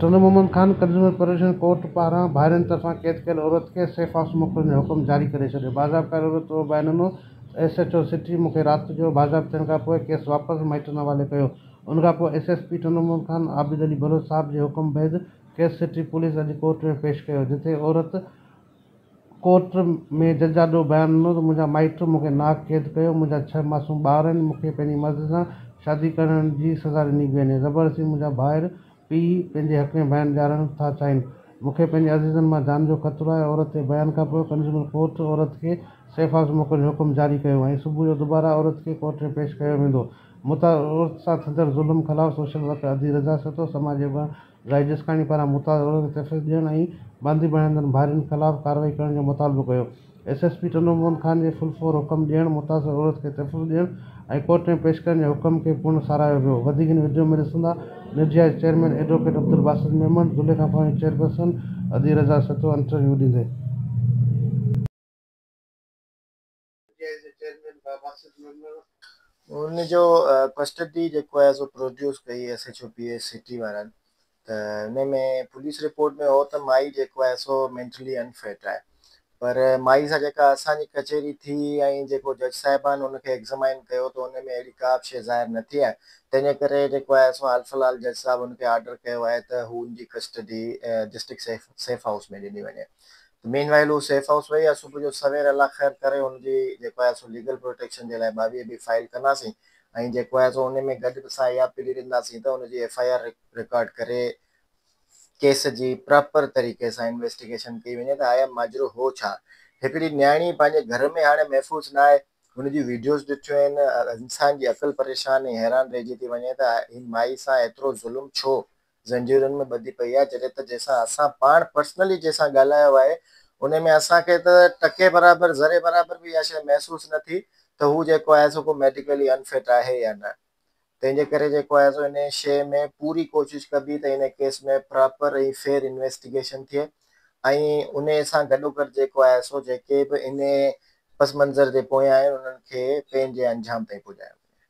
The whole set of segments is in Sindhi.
Sindh Muhammad Khan consumer protection court پاران ڀائرن طرفان قيد ڪيل عورت کي سيف هائوس موڪلڻ جو حڪم جاري ڪري ڇڏيو باضابطه عورت اهو به بيان ڏنو ته ايس ايڇ او سٽي مون کي رات جو باضابطه ٿيڻ کانپوء ڪيس واپس مائٽن حوالي ڪيو ان کانپوء S S P Sindh Muhammad Khan Abid Ali Baloch Sahib جي حڪم بعد ڪيس سٽي پوليس اڄ ڪورٽ ۾ پيش ڪيو جتي عورت ڪورٽ ۾ جج آڏو بيان ڏنو ته منهنجا مائٽ مون کي نااهل قيد ڪيو، منهنجا ڇهه معصوم ٻار آهن، مون کي پنهنجي مرضي سان شادي ڪرڻ جي سزا ڏني پئي وڃي، زبردستي منهنجا ڀائر، پيء، پنهنجي حق ۾ بيان ڏيارڻ ٿا چاهين، مون کي پنهنجي عزيزن مان جان جو خطرو آهي، عورت تي بيان کان پوء ڪنزيومر ڪورٽ عورت کي سيف هائوس موڪلڻ جو حڪم جاري ڪيو ۽ صبح جو دوباره عورت کي ڪورٽ ۾ پيش ڪيو ويندو، متعارف عورت سان ٿيندڙ ظلم خلاف سوشل ورڪر ادي رضا سهتو سماجي اڳواڻ رائي جسڪاڻي پاران متاز عورت کي تشدد ڏيڻ ۽ باندي بڻائيندڙ ڀائرن خلاف ڪارروائي ڪرڻ جو مطالبو ڪيو. S S P Tando Mohan Khan جي فل فور حڪم ڏيڻ، متاثر عورت کي تشدد ڏيڻ ۽ ڪورٽ ۾ پيش ڪرڻ جي حڪم کي پڻ ساراهيو ويو. وڌيڪ هن وڊيو ۾ ڏسندا، نرجيا جي chairman advocate Abdul Basit Memon, Zulekha foundation chairperson ادي رضا سهتو انٽرويو ڏيندي. جي جي چيئرمين بابا سيد ميمڻ ان جو ڪسٽڊي جيڪو آهي سو پروڊيوس ڪئي S H O P S city وارن ته ان ۾ پوليس رپورٽ ۾ هو ته مائي جيڪو آهي سو مينٽلي ان فٽ آهي پر مائي سان جيڪا اسان جي ڪچهري ٿي ۽ جيڪو جج صاحبان ان کي ايگزامائن ڪيو ته ان ۾ اهڙي ڪا به شيء ظاهر نه ٿي آهي تنهن جي ڪري جيڪو آهي سو حال في الحال جج صاحب ان کي آرڊر ڪيو آهي ته هو ان جي ڪسٽڊي ڊسٽرڪٽ سيف هائوس ۾ ڏني وڃي. مين وائيل هو سيف هائوس وئي ها صبح جو سوير الله خير ڪري هن جي جيڪو آهي سو ليگل پروٽيڪشن جي لاء ٻاويهه بي فائيل ڪنداسين ۽ جيڪو آهي سو انهي ۾ گڏ به سا اها پلي ڏينداسين ته ان جي ايف آء آر رڪارڊ ڪري ڪيس جي پراپر طريقي سان انويسٽيگيشن ڪئي وڃي ته آيا ماجرو هو ڇا هڪڙي نياڻي پنهنجي گهر ۾ هاڻي محفوظ نه آهي هن جون ويڊيوز ڏٺيون آهن انسان جي عقل پريشان ۽ حيران رهجي ٿي وڃي ته هن مائي سان ايترو ظلم ڇو زنجيرن ۾ ٻڌي پئي آهي جڏهن ته جنهن سان اسان پاڻ پرسنلي جنهن سان ڳالهايو آهي ان ۾ اسان کي ته ٽڪي برابر ذري برابر به اها شيء محسوس نه ٿي ته هو جيڪو آهي سو ڪو ميڊيڪلي ان فٽ آهي يا نه تنهن جي ڪري جيڪو آهي سو انهيء شيء ۾ پوري ڪوشش ڪبي ته انهيء ڪيس ۾ پراپر ۽ فيئر انويسٽيگيشن ٿئي ۽ انهيء سان گڏوگڏ جيڪو آهي سو جيڪي به انهيء پس منظر جي پويان آهن انهن کي پنهنجي انجام تائين پڄايو وڃي.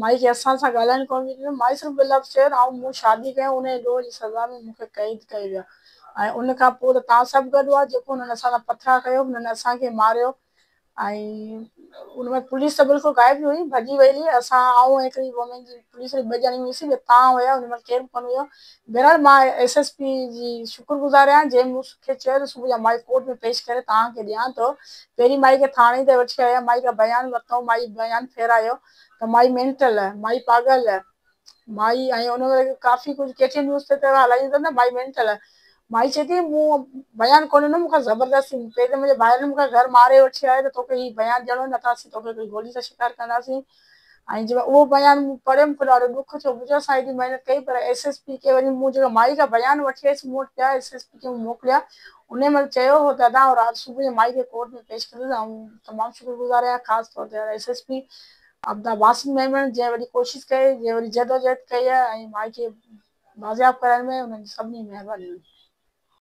مائي کي اسان سان ڳالهائڻ ڪونه پئي ڏنو. مائي صرف ٻه لفظ چيو ته آئون مون شادي ڪيم انهي جي ڏوهه جي سزا ۾ مون کي قيد ڪيو ويو ۽ ان کان پوء ته توهان سڀ گڏ هئا جيڪو هنن اسان سان پٿرا ڪيو هنن اسان کي ماريو ۽ ان وقت پوليس ته بلڪل غائب ئي هئي ڀڄي وئي هئي اسان آئون ۽ هڪڙي وومين جي پوليس ۾ ٻه ڄڻي هئيسين ٻيا تان هيا ان مهل ڪير به ڪونه هيو بهرحال مان ايس ايس پي جي شڪر گذار آهيان جنهن مون کي چيو ته صبح جا مائي ڪورٽ ۾ پيش ڪري توهان کي ڏيان ٿو. پهرين مائي کي ٿاڻي تائين وٺي آيا مائي کان بيان ورتائون مائي بيان ڦيرايو ته مائي مينٽل، مائي پاڳل، مائي ۽ ان وري ڪافي ڪجهه ڪي ٽي اين نيوز تي ته هلائيون ٿا نه مائي مينٽل، مائي چئي ٿي مون بيان ڪونه ڏنو مون کان زبردستي پهرين ته منهنجي ڀائرن مون کي گهر ماري وٺي آيا ته توکي هي بيان ڏيڻو نه ته اسين توکي گولي سان شڪار ڪنداسين. ۽ جيڪڏهن اهو بيان مون پڙهيو مون کي ڏاڍو ڏک ٿيو، مون چيو اسان ايڏي محنت ڪئي پر ايس ايس پي کي وڃي مون جيڪا مائي جا بيان وٺي آيس مون وٽ پيا ايس ايس پي کي مون موڪليا انهي مهل چيو هو ته ادا آئون رات صبح جو مائي کي ڪورٽ ۾ پيش ڪندس آئون تمام شڪر گذار آهيان خاص طور تي S S P Abdul Basit Memon جنهن وڏي ڪوشش ڪئي جنهن وڏي جدوجهد ڪئي ۽ مائي کي بازياب ڪرائڻ ۾ انهن جي سڀني مهرباني هئي.